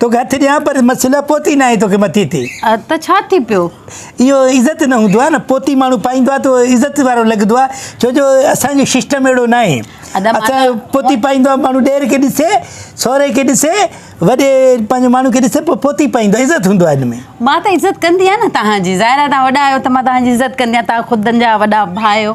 توکي هٿ ڏيان پر مسئلو پوتي ناهي توکي مٿي تي ته ڇا ٿي پيو اهو عزت نه هوندو آهي نه پوتي ماڻهو پائيندو آهي ته عزت وارو لڳندو آهي ڇو جو اسان جو سسٽم اهڙو نه آهي اسان پوتي پائيندو آهي ماڻهو ڏير کي ڏسي سوري کي ڏسي وڏي پنهنجو ماڻهو کي ڏسي پوء پوتي پائيندو آهي عزت هوندو آهي ان ۾ مان ته عزت ڪندي آهيان نه توهان جي ظاهر آهي توهان وڏا آهيو ته مان توهان جي عزت ڪندي آهيان توهان خود جا وڏا ڀاء آهيو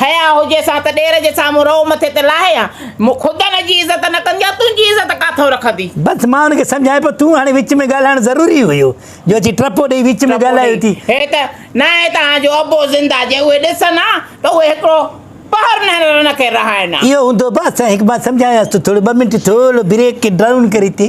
حياء هجيس ها ته ڏير جي سامهون رئو مٿي تي لاهي ها. مون خود هن جي عزت نه ڪندي ها، تنهنجي عزت ڪاٿئون رکندي؟ بس مان هن کي سمجهايان پيو، تون هاڻي وچ ۾ ڳالهائڻ ضروري هيو، جو اچي ٽپو ڏيئي وچ ۾ ڳالهايو ٿي. هي ته نه آهي ته هان جو ابو زنده جي اهي ڏسن ها ته اهي هڪڙو پهر نه هن کي رهائين ها. اهو هوندو به اسان هڪ مان سمجهايانس ته ٿورو ٻه منٽ ٿورو بريڪ ڊائون ڪري تي.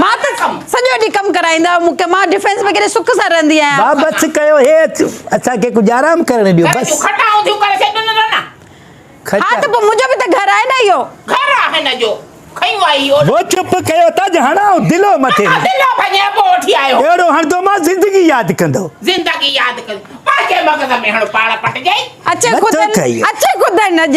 مان ته سڄو ڏينهن ڪم ڪرائيندا مون کي مان ڊفينس ۾ ڪيڏي سک سان رهندي آهيان. ڀاء بس ڪيو هي اسان کي ڪجهه آرام ڪرڻ ڏيو بس. ها ته پوء منهنجو به ته گهر آهي نه اهو. ڀو چپ ڪيو ته اڄ هڻائون دلو مٿي ۾. اهڙو هڻندومانس زندگي ياد ڪندو. اچي خدن اڄ.